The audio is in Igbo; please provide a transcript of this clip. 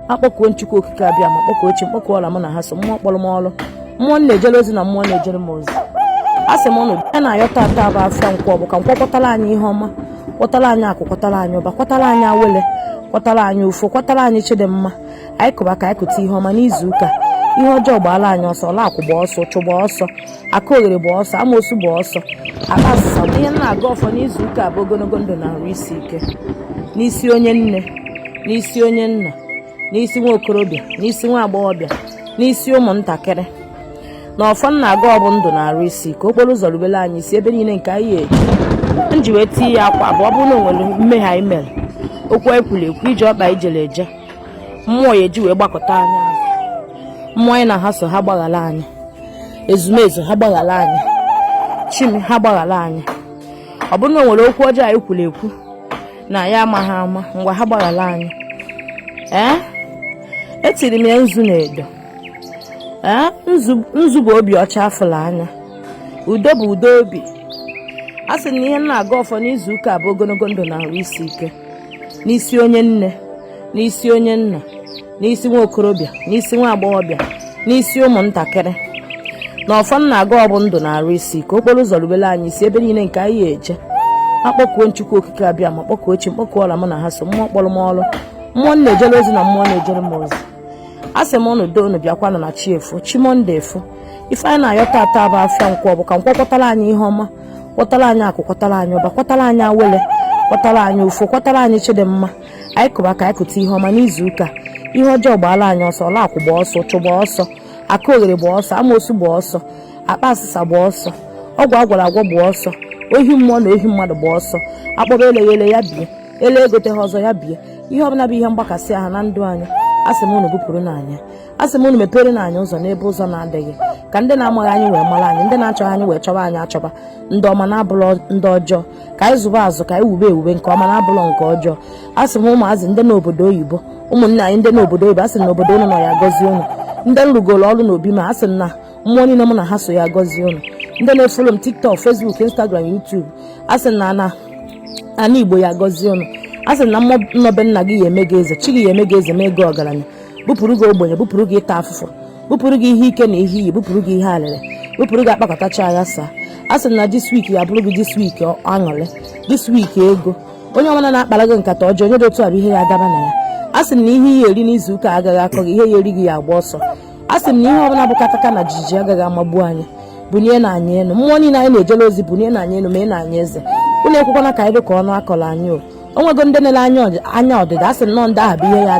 akpọkuo m chukwu okike abịama kpọkuo chi m kpọkuo ọla mụ na ha so mmụọ kpọrọ m ọrụ mmụọ m na-ejere ozi na mmụọ na-ejere m ozi a sị m ụnụ ihe anyị na-ayọ tata bụ afịa nkwọ bụ ka nkwọ kwọtara anyị ihe ọma kwọtara anyị akụ kwọtara anyị ụba kwọtara anyị awele kwọtara anyị ụfọ kwọtara anyị chi dị mma anyị kụba ka anyị kụta ihe ọma n'izu ụka ihe ọjọọ gbaala anyị ọsọ ọla akwụ gba ọsọ ụchụ gba ọsọ aka oghere gba ọsọ amoosu gba ọsọ akpa asịsa bụ ihe m na-agọ ọfọ n'izu ụka bụ ogologo ndụ na arụ isi ike n'isi onye nne n'isi onye nna n'isi nwa okorobịa n'isi nwa agbọghọbịa n'isi ụmụntakịrị na ọfọ m na-agọ bụ ndụ na arụ isi ike okporo ụzọ rubere anyị isi ebe niile nke anyị eje m ji wee tie ya akwa bụ ọ bụrụ na o nwere mmehie anyị mere okwu anyị kwuru ekwu ije ọkpa anyị jere eje mmụọ ya eji wee gbakụta anyị azụ mmụọ anyị na ha so ha gbaghara anyị ezumezu ha gbaghara anyị chi m ha gbaghara anyị ọ bụrụ na o nwere okwu ọjọọ anyị kwuru ekwu na anyị amaghị ama ngwa ha gbaghara anyị ee etiri m ya nzu na edo ee nzu bụ obi ọcha afụlụ anya udo bụ udo obi a sị na ihe m na-agọ ọfọ n'izu ụka bụ ogologo ndụ na ahụ isi ike n'isi onye nne n'isi onye nna n'isi nwa okorobịa n'isi nwa agbọghọbịa n'isi ụmụntakịrị na ọfọ m na-agọ bụ ndụ na arụ isi ike okporo ụzọ rubere anyị isi ebe niile nke anyị eje akpọkuo m chukwu okike abịama kpọkuo chi m kpọkuo ọla mụ na ha so mmụọ kpọrọ m ọrụ mmụọ m na-ejere ozi na mmụọ na-ejere m ozi a sị m ụnụ do unu bịakwanụ na chi efo chi monday efo ife anyị na-ayọ tata bụ afịa nkwọ bụ ka nkwọ kwọtara anyị ihe ọma kwọtara anyị akụ kwọtara anyị ụba kwọtara anyị awele kwọtara anyị ụfọ kwọtara anyị chi dị mma anyị kụba ka anyị kụta ihe ọma n'izu ụka ihe ọjọọ gbaala anyị ọsọ ọla akwụ gba ọsọ ụchụ gba ọsọ aka oghere gba ọsọ amoosu gba ọsọ akpa asịsa gba ọsọ ọgwụ a gwọrọ agwọ gba ọsọ ohi mmụọ na ohi mmadụ gba ọsọ akpọba eleghị ele ya bie ele egoteghị ọzọ ya bie ihe ọbụla bụ ihe mgbakasị ahụ na ndụ anyị asị m unu bupụrụnụ anyị ya asị m unu meperenụ anyị ụzọ n'ebe ụzọ na-adịghị ka ndị na-amaghị anyị wee mara anyị ndị na-achọghị anyị wee chọba anyị achọba ndị ọma na-abụrọ ndị ọjọọ ka anyị zụba azụ ka anyị wube ewube nke ọma na-abụlọ nke ọjọọ a sị m ụmụazị ndị n'obodo oyibo ụmụnne anyị ndị n'obodo oyibo a sị na obodo ụnụ nọ ya gọzie ụnụ ndị m rụgoro ọrụ n'obi m a sị na mmụọ niile mụ na ha so ya gọzie ụnụ ndị na-efolo m tiktok facebook instagram youtube a sị na ana ana igbo ya gọzie ụnụ a sị na mmụọ nọ be nna gị ya eme gị eze chi gị ya eme gị eze mee gị ọgaranya bupụrụ gị ogbenye bupụrụ gị ịta afụfụ bupụrụ gị ihe ike na ihe iyi bupụrụ gị ihe alịrị bupụrụ gị akpakọtacha aghasaa a sị na this week ya bụrụ gị this week aṅụrị this week ego onye ọbụla na-akpara gị nkata ọjọọ onye dị otu a bụ ihe ya adaba na ya a sị na ihe ị ya-eri n'izu ụka agaghị akọ gị ihe ya-eri gị ya-agba ọsọ a sị na ihe ọbụla bụ kataka na jijiji agaghị amagbu anyị bunie nụ anyị enu mmụọ niile anyị na-ejele ozi bunie nụ anyị enu mee nụ anyị eze unu ekwekwana ka anyị dị ka ọnụ a kọrọ anyị o nwego ndị na-ele anya ọdịda a sị nnọọ ndị ahụ bụ ihe ya